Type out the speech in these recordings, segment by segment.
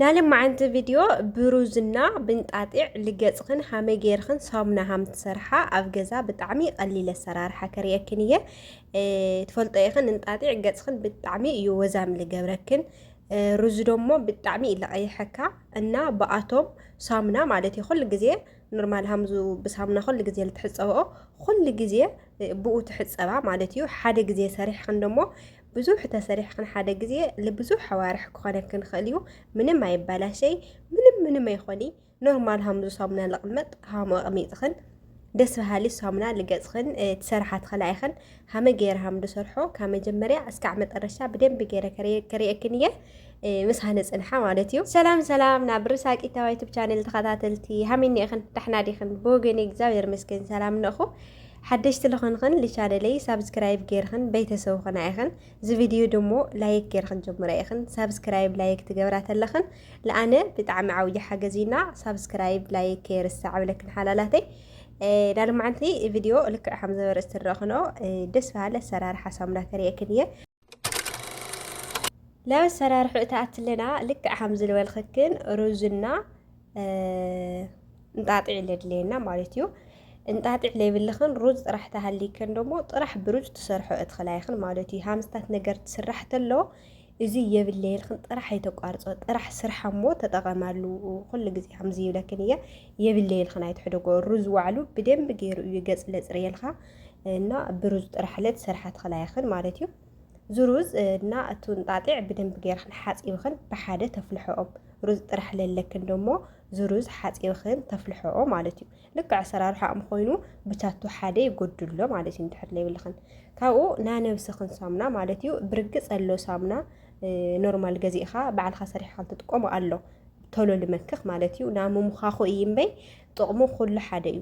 ናለማዓንቲ ቪድዮ ብሩዝና ብንጣጢዕ ልገጽኽን ሃመይ ገይርኽን ሳሙና ሃም ትሰርሓ ኣብ ገዛ ብጣዕሚ ቀሊል ኣሰራርሓ ከርእየክን እየ ትፈልጦ ኢኽን እንጣጢዕ ገጽኽን ብጣዕሚ እዩ ወዛም ልገብረክን ሩዝ ደሞ ብጣዕሚ እዩ ለቐይሐካ እና ብኣቶም ሳሙና ማለት እዩ ኩሉ ግዜ ኖርማል ሃምዙ ብሳሙና ኩሉ ግዜ ልትሕፀበኦ ኩሉ ግዜ ብኡ ትሕፀባ ማለት እዩ ሓደ ግዜ ሰሪሕኽን ደሞ ብዙሕ ተሰሪሕክን ሓደ ግዜ ልብዙሕ ኣዋርሕ ክኾነክን ይኽእል እዩ ምንም ኣይባላሸይ ምንም ምንም ኣይኾኒ ኖርማል ሃምዙ ሳሙና ልቕመጥ ሃሙ ኣቕሚጥኽን ደስ በሃሊ ሳሙና ልገጽኽን ትሰርሓ ትኽእላ ኢኽን ሃመ ገይረ ሃም ድሰርሖ ካብ መጀመርያ እስካዕ መጠረሻ ብደንቢ ገይረ ከሪአክን እየ ምስ ሃነፅንሓ ማለት እዩ ሰላም ሰላም ናብ ርሳቂታዊ ዩቱብ ቻነል ተኸታተልቲ ሃሚኒ ኢኽን ዳሕና ዲኽን ብወገኒ እግዚኣብሔር መስገን ሰላም ነኹ ሓደሽቲ ልኾንኽን ልቻነለይ ሳብስክራይብ ገይርኽን በይተሰቡ ኹና ኢኽን ዝቪድዩ ድሞ ላይክ ገይርኽን ጀምረ ኢኽን ሳብስክራይብ ላይክ ትገብራ ተለኽን ልኣነ ብጣዕሚ ዓውዪ ሓገዝ እዩና ሳብስክራይብ ላይክ ከይርሳዕ ብለክን ሓላላተይ ዳልማዓንቲ ቪድዮ ልክዕ ከም ዘበርእስ ትረኽኖ ደስ በሃሊ ኣሰራርሓ ሳሙና ከርእየክን እየ ላብ ኣሰራርሑ እታ ኣትለና ልክዕ ከም ዝበልክክን ሩዝና እንጣጢዕ ለድለየና ማለት እዩ እንጣጢዕ ለይብልኽን ሩዝ ጥራሕ ተሃሊክን ደሞ ጥራሕ ብሩዝ ትሰርሖ እትኽላ ይኽን ማለት እዩ ሃምስታት ነገር ትስራሕ ተሎ እዚ የብለየልክን ጥራሕ ኣይተቋርፆ ጥራሕ ስርሓ እሞ ተጠቐማሉ ኩሉ ግዜ ከምዚ ይብለክን እየ የብለየልክን ኣይትሕደጎ ሩዝ ዋዕሉ ብደንብ ገይሩ እዩ ገፅ ለፅርየልካ እና ብሩዝ ጥራሕ ለት ዝሰርሓትኽን ኣያኽን ማለት እዩ ዝሩዝ እና እቱ እንጣጢዕ ብደንብ ገይርኽን ሓፂብኽን ብሓደ ተፍልሐኦም ሩዝ ጥራሕ ለለክን ደሞ ዝሩዝ ሓፂብኽን ተፍልሐኦ ማለት እዩ ልክዕ ኣሰራርሓኦም ኮይኑ ብታቱ ሓደ ይጎድሎ ማለት እዩ እንድሕር ለይብልኽን ካብኡ ናነብስኽን ሳሙና ማለት እዩ ብርግፅ ኣሎ ሳሙና ኖርማል ገዚእኻ ባዕልኻ ሰሪሕኻ እንትጥቀሙ ኣሎ ቶሎ ልመክኽ ማለት እዩ ናምምዃኹ እዩ እምበይ ጥቕሙ ኩሉ ሓደ እዩ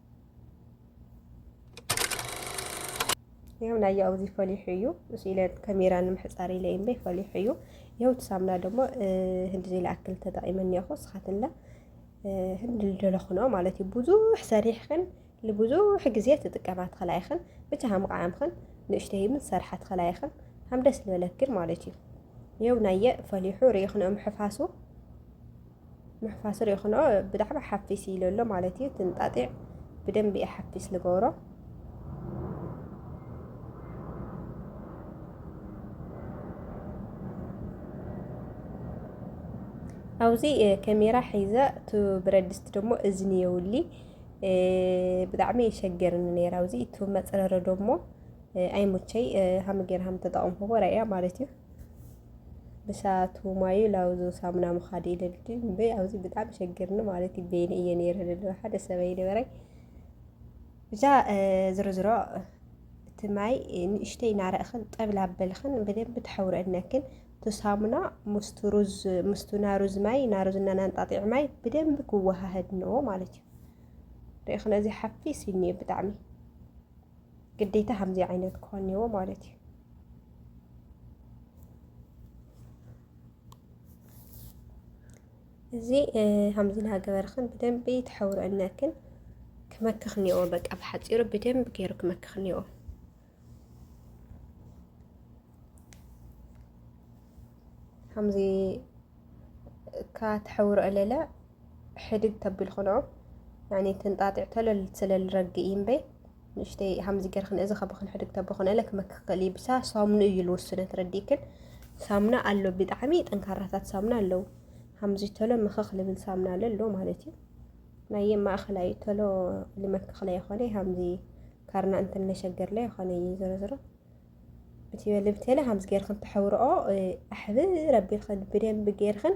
ይኸው ናይ ያው እዚ ፈሊሑ እዩ ምስ ኢለ ከሜራ ንምሕፃር ኢለ እምበይ ፈሊሑ እዩ ይኸው ሳምና ደሞ ህንዲ ዘይለኣክል ተጠቂመን እኒኹ ስኻትንለ ህንዲ ልደለኹኖ ማለት እዩ ብዙሕ ሰሪሕኽን ንብዙሕ ግዜ ትጥቀማ ትኽእላ ኢኽን ብቻ ሃምቃዓምኽን ንእሽተይ ምን ሰርሓ ትኽእላ ኢኽን ሃም ደስ ዝበለክን ማለት እዩ ይኸው ናየ ፈሊሑ ርኢኽንኦም ሕፋሱ ምሕፋስ ርኢኹኖ ብዛዕባ ሓፊስ ኢሉ ኣሎ ማለት እዩ ትንጣጢዕ ብደንቢ እየ ሓፊስ ልገብሮ ኣብዚ ከሜራ ሒዘ እቲ ብረት ድስቲ ደሞ እዝኒ የውሊ ብጣዕሚ የሸገርኒ ነይራ ኣብዚ እቲ መፅረረ ደሞ ኣይሙቸይ ሃምጌር ሃም ተጠቐምኩዎ ራእያ ማለት እዩ ብሰኣቱ ማዩ ላውዞ ሳሙና ምኻድ ኢለልቲ እምበ ኣብዚ ብጣዕሚ ሸግርኒ ማለት እዩ በይነ እየ ነይረ ደለ ሓደ ሰበይ ነበረይ ብዛ ዝርዝሮ እቲ ማይ ንእሽተይ እናረእኽን ጠብላ በልኽን ብደንብ ተሐውረእነክን ሳሙና ምስቱ ሩዝ ምስቱ ናሩዝ ማይ ናሩዝና ናንጣጢዕ ማይ ብደንብ ክወሃህድ ነው ማለት እዩ ርእኽነ እዚ ሓፊስ እዩ ብጣዕሚ ግዴታ ከምዚ ዓይነት ክኾን እኒዎ ማለት እዩ። እዚ ከምዚ እናገበርክን ብደንቢ ተሐውረነክን ክመክኽ እኒዎ በቃ ብሓፂሩ ብደንቢ ገይሩ ክመክኽ እኒዎ። ከምዚ እካ ተሐውረ እለለ ሕድግ ተብል ክኖ ተንጣጢዕ ተለል ስለልረግ እምበይ ንእሽተይ ሃምዚ ገርክን እዚ ከብክን ሕድግ ተብክን እለ ክመክ ክእል ብሳ ሳሙኑ እዩ ልውስነ ትረዲክን ሳሙና ኣሎ ብጣዕሚ ጠንካራታት ሳሙና ኣለዉ ሃምዚ ተሎ ምክክ ልብል ሳሙና ኣለ ኣሎ ማለት እዩ ናይ ማእኸላይ ተሎ ልመክክ ላይ ይኮነ ሃምዚ ካርና እንትን ለሸገር ላይ ይኮነ እዩ ዝረዝሮ እቲ ልብቴለ ሃምዚ ገርክን ተሐውርኦ ኣሕብ ረቢልክን ብደንብ ገርክን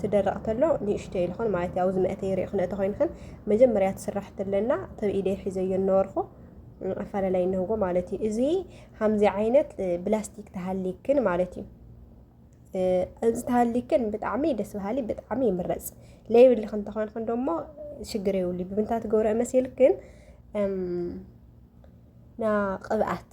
ትደርቕ ተሎ ንእሽቶ እዩ ልኾን ማለት ያው ዝመእተ ይሪኦ ክነእተ ኮይንክን መጀመርያ ትስራሕ ትለና ተብ ኢደይ ሒዘዮ እነበርኩ ኣፈላለይ እነህጎ ማለት እዩ እዚ ከምዚ ዓይነት ብላስቲክ ተሃሊክን ማለት እዩ እዚ ተሃሊክን ብጣዕሚ ደስ በሃሊ ብጣዕሚ ይምረፅ ለይብልክ እንተኾንክን ደሞ ሽግር የብሉ ብምንታይ ትገብረኦ መሲልክን ና ቅብኣት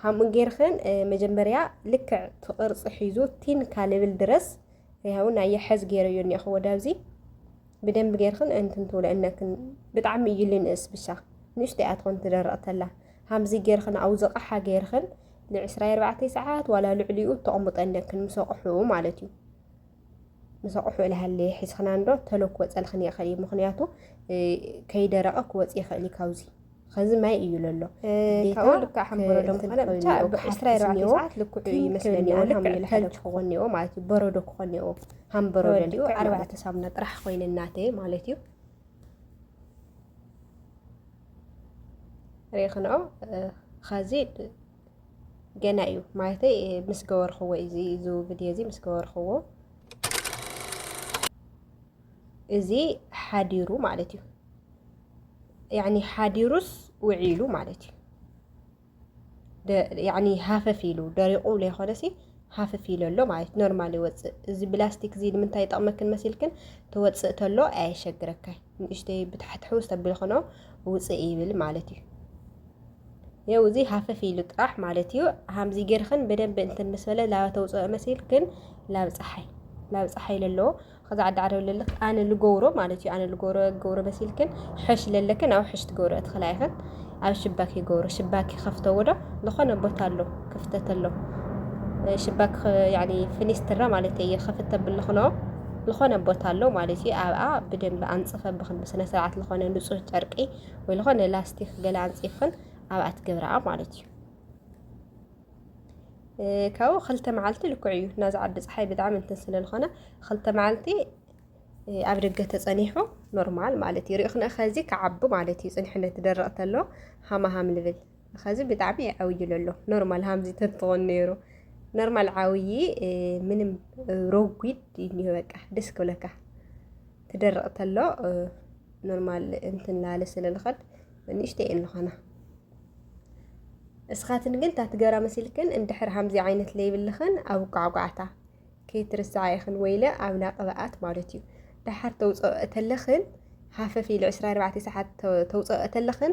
ከምኡ ጌርክን መጀመርያ ልክዕ ትቕርፂ ሒዙ ቲን ካልብል ድረስ ያው ናይ የሐዝ ጌረዮ እኒኹ ወዳብዚ ብደንብ ጌርክን እንትን ትብሎ እነክን ብጣዕሚ እዩ ልንእስ ብሻ ንእሽተይ እያ ትኾን ትደረቕ ተላ ሃምዚ ጌርክን ኣብ ዝቕሓ ጌርክን ን24 ሰዓት ዋላ ልዕሊኡ ተቕምጦ እነክን ምስ ኣቕሑ ማለት እዩ ምስ ኣቑሑ እልሃለየ ሒዝኽና እንዶ ተሎ ክወፀልኽን ይኽእል እዩ ምክንያቱ ከይደረቐ ክወፅ ይኽእል እዩ ካብዚ ከዚ ማይ እዩ ለሎ ካብኡ ልክዕ ሓምበሮ ደም ኮነ ብቻ ብዓስራ ኣርባዕተ ሰዓት ልክዑ እዩ ይመስለኒ ልክዕ ተልጅ ክኾን እኒኦ ማለት እዩ በረዶ ክኾን እኒኦ ሃምበሮ ደልኡ ኣርባዕተ ሳሙና ጥራሕ ኮይነ እናተ ማለት እዩ ሬኽንኦ ኸዚ ገና እዩ ማለተይ ምስ ገበርኽዎ እዚ እዚ ቪድዮ እዚ ምስ ገበርኽዎ እዚ ሓዲሩ ማለት እዩ ያኒ ሓዲሩስ ውዒሉ ማለት እዩ ያኒ ሃፈፍ ኢሉ ደሪቑ ዘይኮነሲ ሃፍፍ ኢሉ ኣሎ ማለት ኖርማል ይወፅእ እዚ ብላስቲክ እዚ ንምንታይ ይጠቕመክን መሲልክን ተወፅእ ተሎ ኣየሸግረካይ ንእሽተይ ብታሕትሑ ዝተብልኽኖ ውፅእ ይብል ማለት እዩ የው እዚ ሃፈፍ ኢሉ ጥራሕ ማለት እዩ ሃምዚ ጌርክን በደንብ እንትን ምስ በለ ላባ ተውፅኦ መሲልክን ላብ ፀሓይ ላብ ፀሓይ ለለዎ ከዛ ዓዲ ዓደው ለልክ ኣነ ልገብሮ ማለት እዩ ኣነ ልገብሮ ገብሮ መሲልክን ሕሽ ለለክን ኣብ ሕሽ ትገብሮ እትኽላ ይኽን ኣብ ሽባክ ይገብሮ ሽባክ ይኸፍተዎ ዶ ዝኾነ ቦታ ኣሎ ክፍተት ኣሎ ሽባክ ፍኒስትራ ማለት እዩ ክፍተ ብልኽኖ ዝኾነ ቦታ ኣሎ ማለት እዩ ኣብኣ ብደንብ ኣንፅፈ ብክን ብስነ ስርዓት ዝኾነ ንፁህ ጨርቂ ወይ ዝኾነ ላስቲክ ገለ ኣንጺፍክን ኣብኣ ትገብርኣ ማለት እዩ ካብኡ ክልተ መዓልቲ ልክዕ እዩ ናዚ ዓዲ ፀሓይ ብጣዕሚ እንትን ስለ ዝኾነ ክልተ መዓልቲ ኣብ ደገ ተጸኒሑ ኖርማል ማለት እዩ ሪእኽነ ከዚ ክዓቢ ማለት እዩ ጽንሕነት ደረቕ ተሎ ሃማሃም ልብል ከዚ ብጣዕሚ ይዓውይ ለሎ ኖርማል ሃምዚ ተትኾን ነይሩ ኖርማል ዓውዪ ምንም ሮጒድ እዩ በቃ ደስ ክብለካ ክደርቕ ተሎ ኖርማል እንትን ላለ ስለ ልኸድ ንእሽተይ እየን ልኾና እስኻትን ግን እታ ትገራ መሲልክን እንድሕር ሃምዚ ዓይነት ለይብልኽን ኣብ ቋዕቋዕታ ከይትርስዓ ኢኽን ወይለ ኣብና ቅብኣት ማለት እዩ ደሓር ተውፅኦ እተለኽን ሃፈፍ ኢሉ 24 ሰዓት ተውፅኦ እተለኽን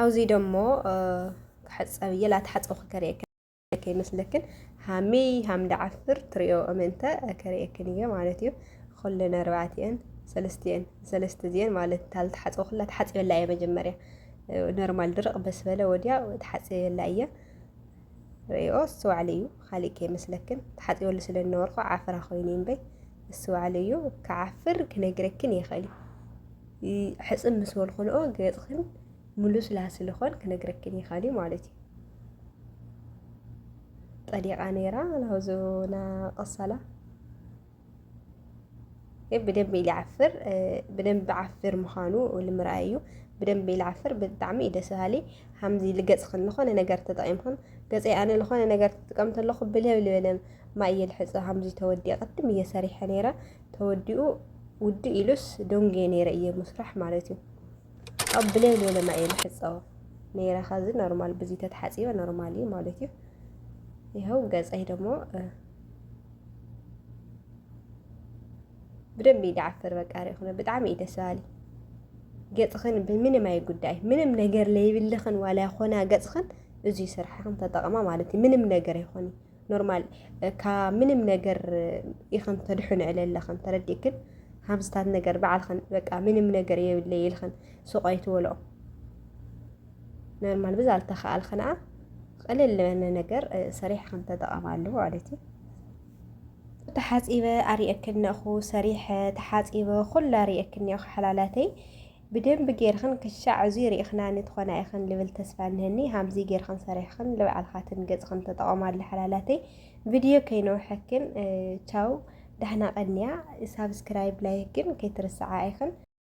ኣብዚ ደሞ ክሕፀብ እየ ላትሓፀው ክከርእየክን ከይመስለክን ሃሚ ሃም ዳዓፍር ትሪኦ እምንተ ከርእየክን እየ ማለት እዩ ኩለን ኣርባዕቲኤን ሰለስቲኤን ሰለስተ እዚኤን ማለት ታልትሓፀው ኩላ ተሓፂበላ እየ መጀመርያ ኖርማል ድርቕ በስበለ ወዲያ ተሓፂበላ እየ ርእይኦ ዝስተውዓለ እዩ ኻሊእ ከይመስለክን ተሓጺበሉ ስለ ዝነበርኩ ዓፍራ ኮይኑ እዩ እምበይ ዝስተውዓለ እዩ ክዓፍር ክነግረክን ይኽእል እዩ ሕጽብ ምስ በልኩንኦ ገጽኽን ምሉስ ላስልኾን ክነግረክን ይኽእል እዩ ማለት እዩ ጠሊቓ ነይራ ናብዞ ናቐሳላ ብደንብ ኢለ ዓፍር ብደንብ ዓፍር ምዃኑ ንምርኣይ እዩ ብደንብ ኢለ ዓፍር ብጣዕሚ እዩ ደስ በሃሊ ሓምዚ ልገፅኽን ዝኾነ ነገር ተጠቒምኽን ገፀይ ኣነ ዝኾነ ነገር ትጥቀም ተለኹ ብልብ ልበለም ማይ እየ ልሕፀ ሓምዚ ተወዲኡ ቅድም እየ ሰሪሐ ነይረ ተወዲኡ ውድእ ኢሉስ ደንጌ ነይረ እየ ምስራሕ ማለት እዩ ኣብ ብልብ ልበለ ማይ እየ ልሕፀ ነይረ ኸዚ ኖርማል ብዙ ተተሓፂበ ኖርማል እዩ ማለት እዩ ይኸው ገፀይ ደግሞ ብደንብ እዩ ድዓፍር በቃ ሪኢኹነ ብጣዕሚ እዩ ደስ በሃሊ ገፅኽን ብምንም ኣይጉዳይ ምንም ነገር ለይብልኽን ዋላ ይኾና ገፅኽን እዙይ ስርሕኽን ተጠቕማ ማለት እዩ ምንም ነገር ይኾን ኖርማል ካብ ምንም ነገር ኢኽን ተድሕኑ ዕለለኽን ተረዲእክን ሃምስታት ነገር በዓልኽን በቃ ምንም ነገር የብለይ ኢልኽን ሱቕ ኣይትበልኦ ኖርማል ብዛ ልተኸኣል ኸነኣ ቕልል ልበነ ነገር ሰሪሕ ከም ተጠቐማሉ ማለት እዩ ተሓፂበ ኣሪእክን ነኹ ሰሪሐ ተሓፂበ ኩላ ኣሪእክን እኒኦ ሓላላተይ ብደንብ ጌርኽን ክሻዕ እዚ ርኢኽናኒ ትኾና ኢኽን ልብል ተስፋ እነሀኒ ሃምዚ ጌርኽን ሰሪሕኽን ልባዕልኻትን ገፅኽን ተጠቐማሉ ሓላላተይ ቪድዮ ከይነውሐክን ቻው ዳሕና ቐንያ ሳብስክራይብ ላይክ ግን ከይትርስዓ ኢኽን